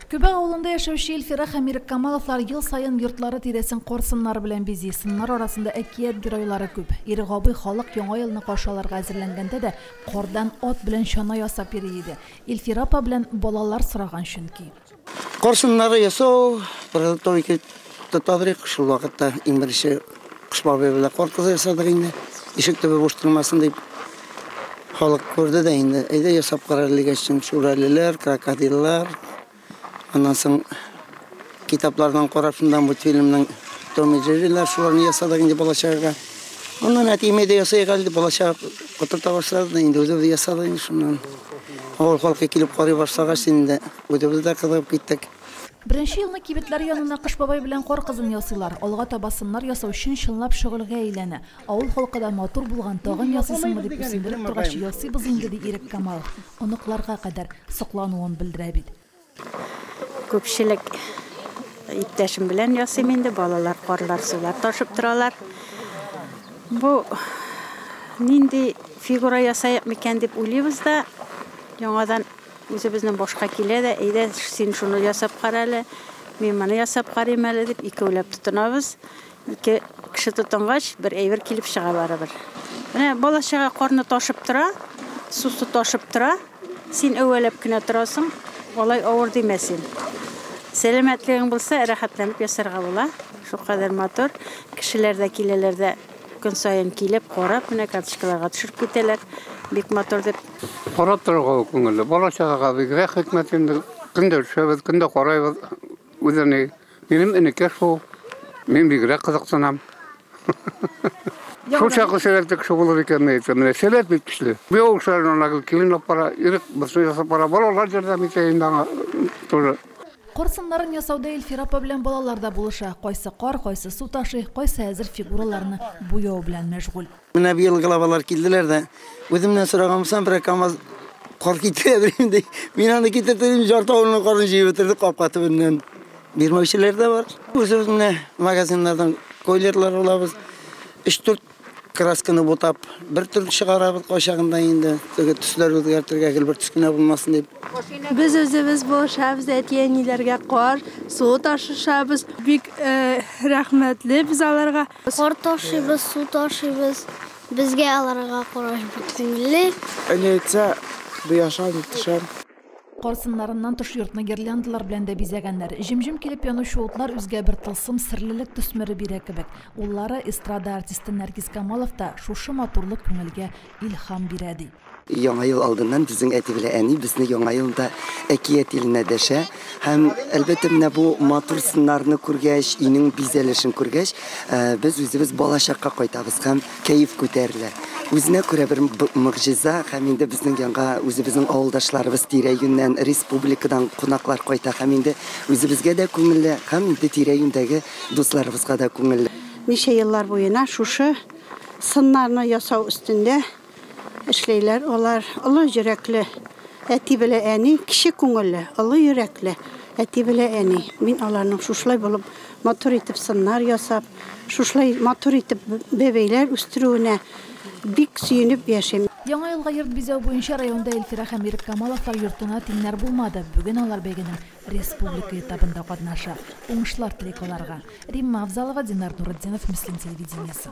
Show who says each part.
Speaker 1: Көбә авылында яшәүче Илфирах һәм Ирек Камаловлар ел саен йортлары тирәсен кар сыннары белән бизи. Сыннар арасында әкият геройлары күп. Ирек абый халык Яңа елны каршы алырга әзерләнгәндә дә кардан ат белән чана ясап йөри иде. Илфира апа белән балалар сораган, чөнки. Кар сыннары
Speaker 2: ясау, подготовить итеп тотабыз шул вакытта, иң беренче Кыш бабай белән кар кызы ясадык инде. Ишек төбе буш тормасын дип. Халык күрде дә инде. Әйдә ясап кара дигәч, шүрәлеләр, крокодиллар. Аннан соң китаплардан карап, шунда мультфильмның Том и Джеррилар шуларны ясадык инде балачагага. Аннан әтиемә дә ясайык әле дип балачага котырта башлады да инде үзебез ясадык инде шуннан. Авыл халкы килеп карый башлагач инде үзебез дә кызыгып киттек. Беренче елны
Speaker 1: кибетләр янына Кыш бабай белән Кар кызын ясыйлар. Алга таба сыннар ясау чын чынлап шөгыльгә әйләнә. Авыл халкы да матур булган, тагын ясыйсыңмы дип үрсендереп торгач, ясыйбыз инде, ди Иреккамал. Оныкларга кадәр соклануын белдерә бит.
Speaker 3: Күпчелек иптәшем белән ясыйм инде, балалар карлар-сулар ташып торалар. Бу нинди фигура ясыйк микән дип уйлыйбыз да, яңадан. Үзебезнең башка килә дә, әйдә, син шуны ясап кара әле, мин моны ясап карыйм әле, дип, икәүләп тотынабыз. Ике кеше тотынгач, бер әйбер килеп чыга барыбер. Менә бала-чага карны ташып тора, сусы ташып тора. Син әүвәләп кенә торасың, алай авыр димә син. Сәламәтлегең булса, рәхәтләнеп ясарга була. Шулкадәр матур. Кешеләр дә киләләр дә Көн саен килеп, карап, менә карточкаларга төшереп китәләр. Бик матур дип. Карап торырга да
Speaker 4: күңелле. Бала-чагага бигрәк хикмәт инде. Көн дә төшәбез, көн дә карыйбыз. Үзе ни. Минем энекәш шул. Мин бигрәк кызыксынам. Шул чаклы сәләтле кеше булыр икән, ни әйтсәм, менә сәләт бик көчле. Бу ял эшләрен ана килен алып бара, ирек берсе ясап бара, балалар ярдәм итә инде аңа тоже. Кар сыннарын
Speaker 1: ясауда Илфир апа белән балалар да булыша. Кайсы кар, кайсы су ташый, кайсы әзер фигураларны буяу белән мәшгуль. Менә быел главалар
Speaker 2: килделәр дә, үземнән сораганмсам, берәр камаз кар китерә белим, ди. Мин аны китертеп, ярты авылның карын җыеп бетердек капка төбеннән. Бирмәүчеләр дә бар. Үзебез менә магазиннардан койлерлар алабыз. Өч-дүрт Красканы бутап, бер төр чыгарабыз кайчагында инде. Теге төсләр үзгәртергә гел бер төс кенә булмасын дип. Без үзебез
Speaker 5: булышабыз, әти-әниләргә кар, су ташышабыз. Бик э, рәхмәтле без аларга. Кар ташыйбыз,
Speaker 6: су ташыйбыз. Безгә аларга караш бик күңелле. Әни әйтсә,
Speaker 7: бу яшам, төшәм. Карсыннарыннан
Speaker 1: тыш йортны гирляндалар белән дә бизәгәннәр. Җем-җем килеп янучы утлар үзгә бер тылсым, серлелек төсмере бирә кебек. Уллары, эстрада артисты Нәркис Камалов та, Шушы матурлык күңелгә илһам бирә, ди. Яңа ел алдыннан
Speaker 8: безнең әти белән әни безне Яңа елда әкият иленә дәшә. Һәм, әлбәттә, менә бу матур сыннарны күргәч, өйнең бизәлешен күргәч, без үзебез балачакка кайтабыз һәм Кәеф күтәрелә. Үзенә күрә бер могҗиза һәм инде безнең янга үзебезнең авылдашларыбыз тирә-юньнән, республикадан кунаклар кайта һәм инде үзебезгә дә күңелле һәм инде тирә-юньдәге дусларыбызга да күңелле. Ничә еллар
Speaker 3: буена шушы сыннарны ясау өстендә эшләйләр алар. Олы йөрәкле әти белә әни, кече күңелле, олы йөрәкле әти белә әни. Мин аларның шушылай булып Матур итеп сыннар ясап, шушылай матур итеп бәбәйләр үстерүенә бик сөенеп яшим. Яңа елга йорт бизәү
Speaker 1: буенча районда Илфирә һәм Ирек Камаловлар йортына тиңнәр булмады. Бүген алар бәйгенең республика этабында катнаша. Уңышлар телик аларга. Римма Авзалова, Динар Нуретдинов, Мөслим телевидениесе.